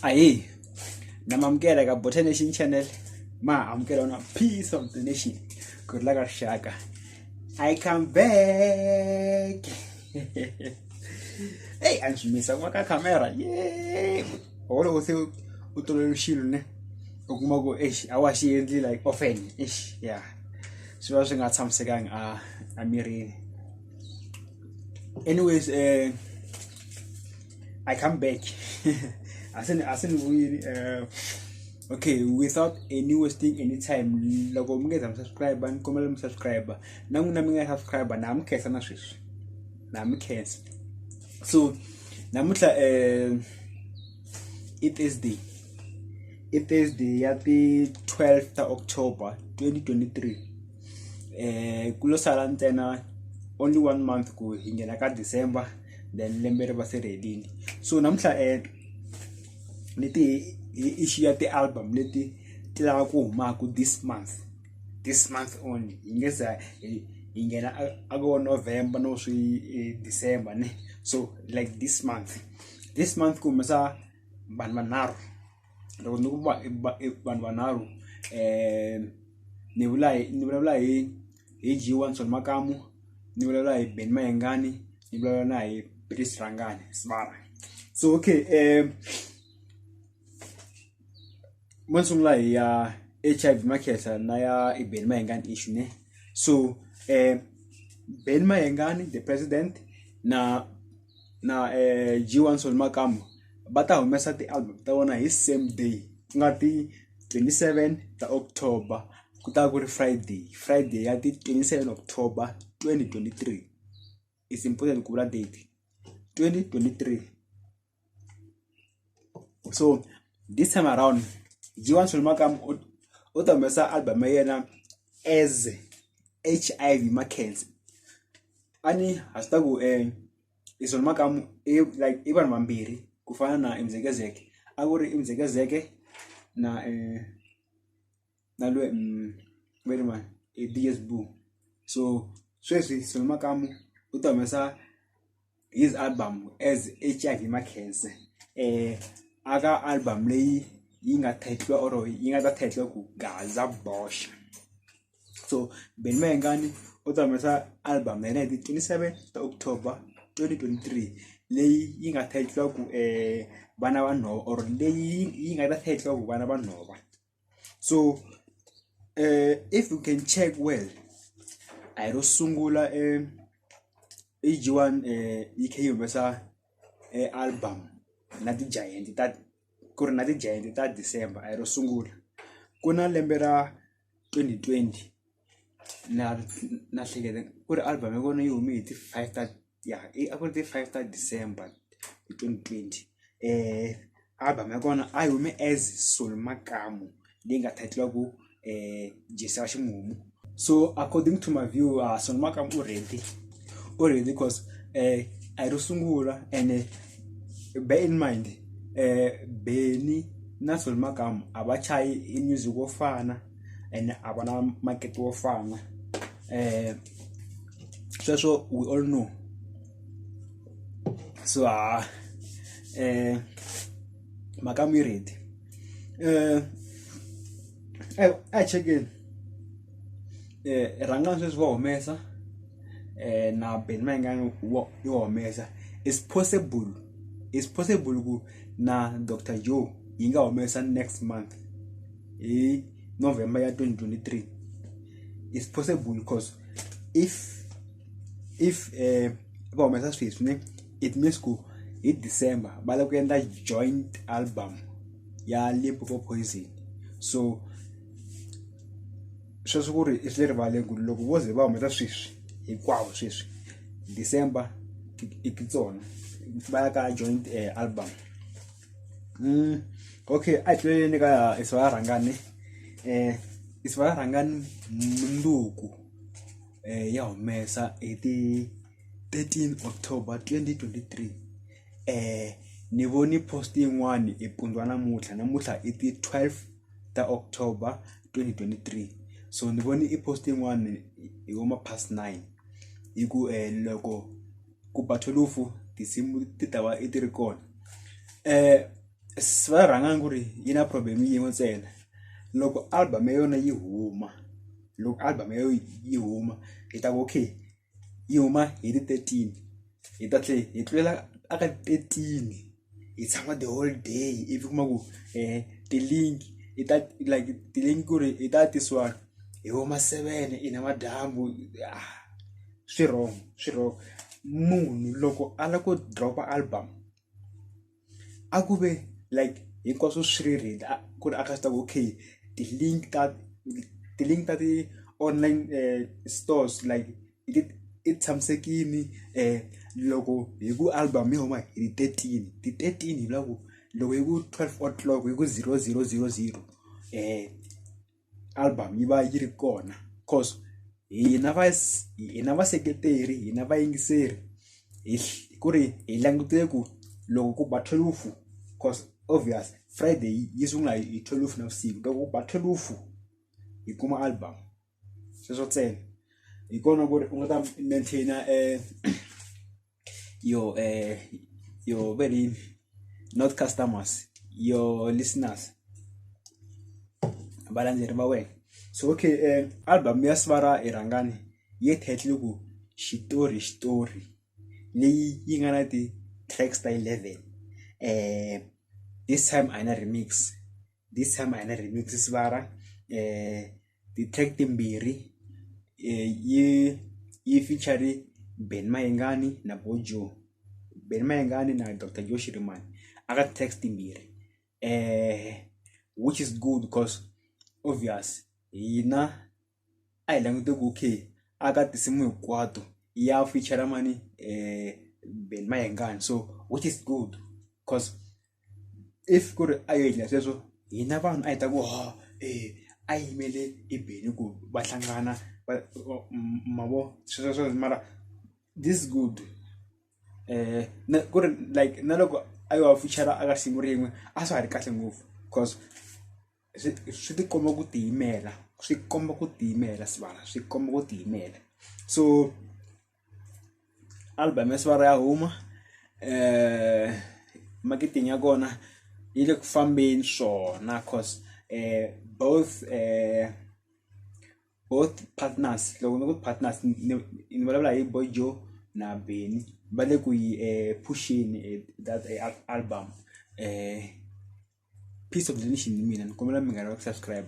ayi namamukela eka bota nation channel ma amukela ona peace of the nation ku ri la ka rixaka i come back eyi a ni swi misa ku va ka camera ye or loko se u tolovele xilo ne u kuma ku exi a wa xi endli like often exi ya swi va swi nga tshamisekangi a emirini anyways um i come back asinibuyini um okay without any wasting any time loko mi nge za mi subscribe ni kombela mi subscribe na n'wina mi nga subscribe na mi khensa na sweswi na mi khensa so namuntlha um i thursday i thursday ya ti-12 ta october 2023 eh ku lo sala ntsena only one month ku hi nghena ka december then lembe ri va se ri helile so namuntlha um leti hi xiya ti-album leti ti lava ku humaka this month this month only hi nge za hi nghena a ko november no swi eh, december ne so like this month this month ku humesa vanhu vanharhu loko ni ku va i va i vanhu vanharhu ni vula hi ni vulavula hi hi G wa Ntsoni Makamu ni vulavula hi Benny Mayengani ni vulavula na hi Peace Rhangani Sibala so okay mo ni sungula hi ya H_I_V Makhehla na ya i Benny Mayengani issue ne so Benny Mayengani the president na na G1 Makamba va ta humesa ti-album ta vona hi same day ku nga ti twenty seven ta October ku ta va ku ri Friday Friday ya ti twenty seven October twenty twenty three is important ku vula date twenty twenty three. so this time around jiwan solomakam u ta humesa album ya yena as hiv markets a ni ha swi ta ku um i solomakam i like i vanhu vambirhi ku fana na imzekezeke a ku ri imzekezeke na um na lwe mm, very much e DS Blue so sweswi Solo Makamu u ta humesa his album as HIV Makhense eh aka album leyi yi nga title or yi nga ta title ku Gaza Bosha so Ben Mayengani u ta humesa album ya 1927 ta October 2023 leyi yi nga title ku eh vana va nhova or leyi yi nga ta title ku vana va nhova so uh, if you can check well i ro sungula um, ag1 uh, ek humesa uh, album na ti-giant ta ku ri na ti-giant ta december a hi ro sungula ku na lembe ra 2020 na na hleketa ku ri album ya vona yi hume hi ti five ta ya a ku ri ti five ta December hi twenty twenty album ya kona a yi hume as Soul Makamu leyi nga title ku Jesi wa ximumu so according to my view uh, Soul Makamu u ready u ready because eh a yi ro sungula and bear in mind eh Benny na Soul Makamu a va chayi i music wo fana ene a va na makete wo fana um sweswo we all know so ha um mhaka mi yi ready um a hi chekeni um rhangani sweswi va humesa um na beni ma yingani wo yo humesa is possible is possible ku na doctor joe yi nga humesa next month hi november ya 2023 is possible because if if eh, va humesa sweswi ne it means ku hi december va lava ku endla joint album ya limpopo poison so sweswi ku ri i swi le rivaleni ku ri loko vo ze va humesa sweswi hinkwavo sweswi december i ti tsona va ya ka joint eh, album Mm, okay a hi tluleleni ka isa va rhangani um isa va rhangani mundzuku um ya humesa hi ti 13 october 2023 um ni voni post yin'wani hi pundwa namuntlha namuntlha i ti 12 ta october 2023 so ni voni i post yin'wani hi vo ma past nine hi ku um loko ku batholufu tinsimu ti ta va i ti ri kona va rhanga ku ri yi na problem yin'we ntsena loko album ya yona yi huma loko album ya yona yi huma hi ta ku okay yi huma hi ti thirteen hi ta tlhela hi tlulela a ka thirteen. hi tshama the whole day ivi kuma ku um ti-link i ta like ti-link ku ri i ta tisiwa hi vo ma seven i namadyambu ah, swi wrong swi wrong munhu loko a lava ku dropa album a ku ve like hinkwaswo swi ri read ku ri a ka swi ta ku okay ti-link ta ti-link ta ti-online um stores like i tshamisekile loko hi ku album yi huma hi thirteen ti thirteen hi loko loko hi ku twelve o'clock hi ku zero zero zero zero album yi va yi ri kona cause hina va hina vaseketeri hina vayingiseri hi ku ri hi langutele ku loko ku ba twelve cause obvious Friday yi sungula hi twelve navusiku loko ku ba thwelufu hi kuma album. sweswo ntsena hi kona ku ri u nga ta maintain yo yo va ri yini not customers yo listeners valandzeri va wena so okay album ya Sibara i rhangani yi title ku xitori xitori leyi yi nga na ti-tracks ta eleven this time a hi na remix this time a hi na remix Sibara . ti-track timbirhi yi yi feature-ri Benny Mayengani na Buju Benny Mayengani na Doctor Joe Shirimani aka ti-track timbirhi which is good cause obvious hina a hi langute ku okay a ka tinsimu hinkwato ya feature-ra mani Benny Mayengani so which is good cause. if ku ri a yo endla sweswo hina vanhu a hi ta ku ha a yimele i beni ku va hlangana va ma vo sweswo mara this is good na ku ri like na loko a yo va pfuxela a ka siku rin'we a swa ha ri kahle ngopfu coz swi swi ti komba ku tiyimela swi komba ku tiyimela swivala swi komba ku tiyimela so. album ya sivara ya huma eh marketing ya kona yi le ku fambeni swona cause eh both eh both partners loko ni ku partners ni ni vulavula hi boy joe na beni va le ku yi eh pusheni eh, that eh, al- album eh piece of donation ni mina ni kombela mi nga lavi ku subscribe